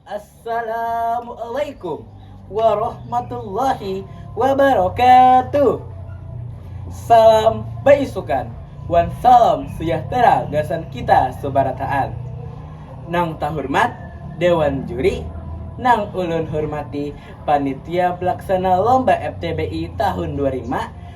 Assalamualaikum warahmatullahi wabarakatuh Salam baisukan wan salam sejahtera gasan kita sebarataan Nang tahurmat Dewan Juri Nang ulun hurmati Panitia Pelaksana Lomba FTBI tahun 25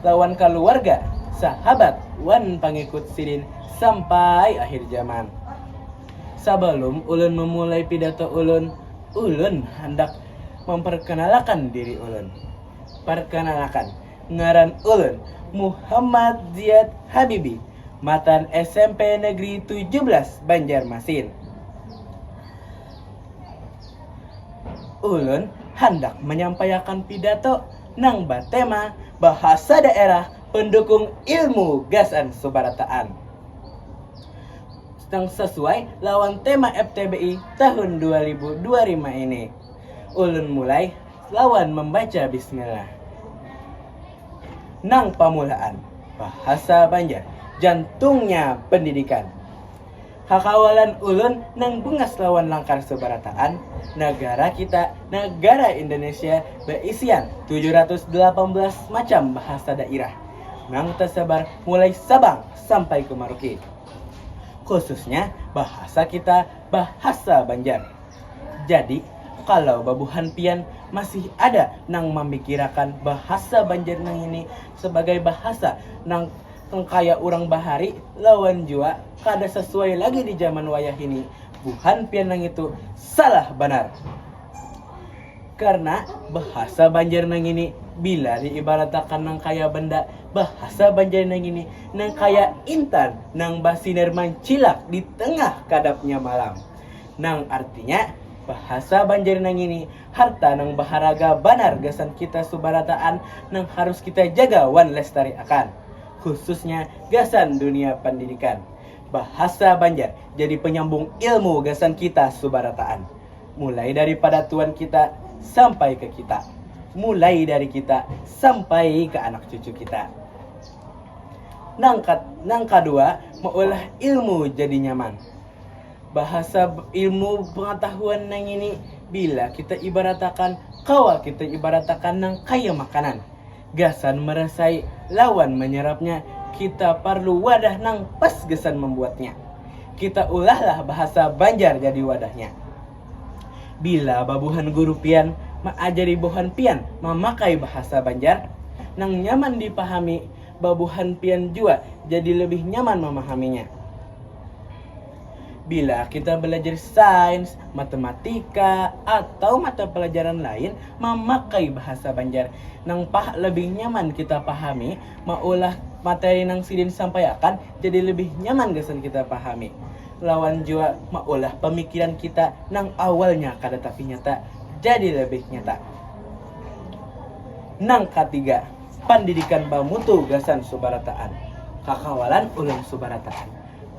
lawan kaluarga, sahabat, wan pangikut Sidin sampai akhir zaman. Sabalum ulun mamulai pidato ulun, ulun handak mamparkanalakan diri ulun. Parkanalakan, ngaran ulun Muhammad Ziyad Habibi, matan SMP Negeri tujuh belas Banjarmasin. Ulun handak manyampaiakan pidato. nang batema Bahasa Daerah Pendukung Ilmu Gasan Subarataan nang sasuai lawan tema FTBI tahun dua ribu dua lima ini. Ulun mulai lawan mambaca Bismillah. Nang pamulaan, Bahasa Banjar, jantungnya pendidikan. Kakawalan ulun nang bungas lawan langkar sabarataan, nagara kita, nagara Indonesia, baisian tujuh ratus delapan belas macam bahasa dairah nang tasabar mulai Sabang sampai ka Maroke. Khususnya bahasa kita bahasa Banjar. Jadi, kalau babuhan pian masih ada nang mamikirakan bahasa Banjar nangini Sabagai bahasa nang kaya urang bahari lawan jua kada sasuai lagi di jaman wayahini, buhan pian nangitu salah banar. Karna bahasa Banjar nangini bila diibaratakan nang kaya benda bahasa Banjar nangini nang kaya intan nang basinar mancilak di tengah kadapnya malam. Nang artinya, bahasa Banjar nangini harta nang baharaga banar gasan kita subarataan nang harus kita jaga wan lestariakan, khususnya gasan dunia pandidikan. Bahasa Banjar jadi penyambung ilmu gasan kita subarataan, mulai dari padatuan kita sampai ke kita, mulai dari kita sampai ke anak cucu kita. Nang, nang kadua, meulah ilmu jadi nyaman. Bahasa ilmu pangatahuan nangini bila kita ibaratakan kawa kita ibaratakan nang kaya makanan. Gasan marasai lawan manyarapnya kita parlu wadah nang pas gasan mambuatnya. Kita ulahlah bahasa Banjar jadi wadahnya. Bila babuhan guru pian maajari buhan pian mamakai bahasa Banjar nang nyaman dipahami, babuhan pian jua jadi lebih nyaman mamahaminya. Bila kita balajar sains, matematika, atau mata palajaran lain mamakai bahasa Banjar, nang pah labih nyaman kita pahami, maulah materi nang sidin sampaiakan jadi labih nyaman gasan kita pahami. Lawan jua maulah pamikiran kita nang awalnya kada tapi nyata jadi labih nyata. Nang katiga. Pandidikan bamutu gasan subarataan, kakawalan ulun subarataan.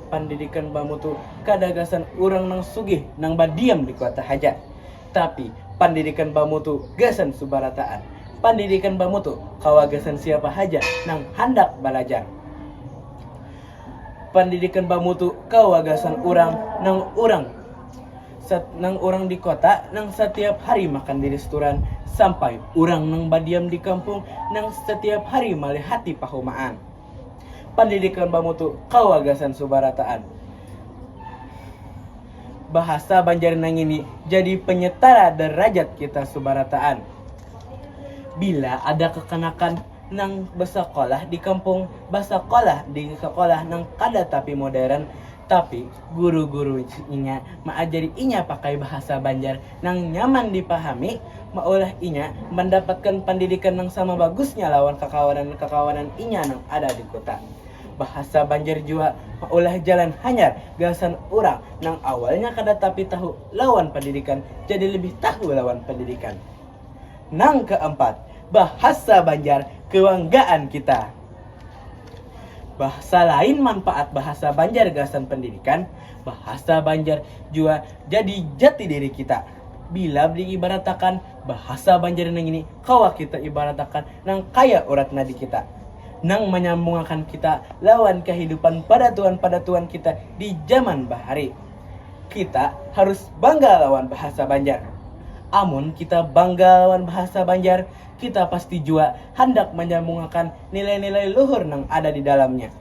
Pandidikan bamutu kada gasan urang nang sugih nang badiam di kota haja, tapi pandidikan bamutu gasan subarataan. Pandidikan bamutu kawa gasan siapa haja nang handak balajar. Pandidikan bamutu kawa gasan urang nang urang Sat nang urang di kota nang satiap hari makan di resturan sampai urang nang badiam di kampung nang satiap hari malihati pahumaan pandidikan bamutu kawa gasan subarataan. Bahasa Banjar nangini jadi penyetara derajat kita subarataan. Bila ada kekanakan nang besakolah di kampung basakolah di sakolah nang kada tapi modern, Tapi, guru-guru inya maajari inya pakai bahasa Banjar nang nyaman dipahami, maulah inya mandapatkan pandidikan nang sama bagusnya lawan kakawanan-kakawanan inya nang ada di kuta. Bahasa Banjar jua maulah jalan hanyar gasan urang nang awalnya kada tapi tahu lawan pandidikan jadi lebih tahu lawan pandidikan. Nang kaampat, bahasa Banjar kewanggaan kita. Bah, salain manpaat bahasa Banjar gasan pendidikan, bahasa Banjar jua jadi jati diri kita. Bila diibaratakan, bahasa Banjar nangini kawa kita ibaratakan nang kaya urat nadi kita, nang manyambungakan kita lawan kahidupan padatuan-padatuan kita di jaman bahari. Kita harus bangga lawan bahasa Banjar. Amun kita bangga lawan bahasa Banjar, kita pasti jua handak manyambungakan nilai-nilai luhur nang ada di dalamnya.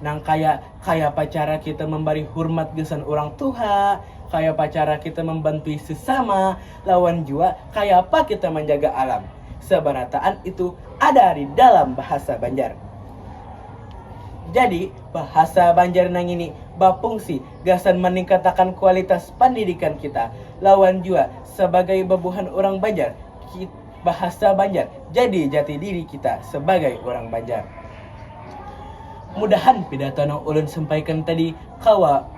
Nang kaya, kayapa cara kita mambari hurmat gasan urang tuha, kayapa cara kita mambantui sesama, lawan jua kayapa kita manjaga alam. Sabarataan itu ada di dalam bahasa Banjar. Jadi, bahasa Banjar nangini bapungsi gasan maningkatakan kualitas pandidikan kita lawan jua sabagai babuhan urang Banjar, kita. bahasa Banjar jadi jati diri kita sebagai urang Banjar. Mudahan pidato nang ulun sampaikan tadi kawa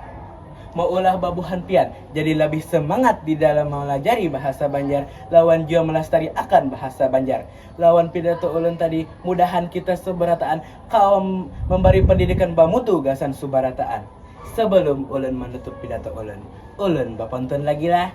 maulah babuhan pian jadi labih semangat di dalam malajari bahasa Banjar lawan jua malastari akan bahasa Banjar. Lawan pidato ulun tadi mudahan kita sabarataan kawa mambari pandidikan bamutu gasan sabarataan. Sabalum ulun manutup pidato ulun, ulun bapontun lagi lah.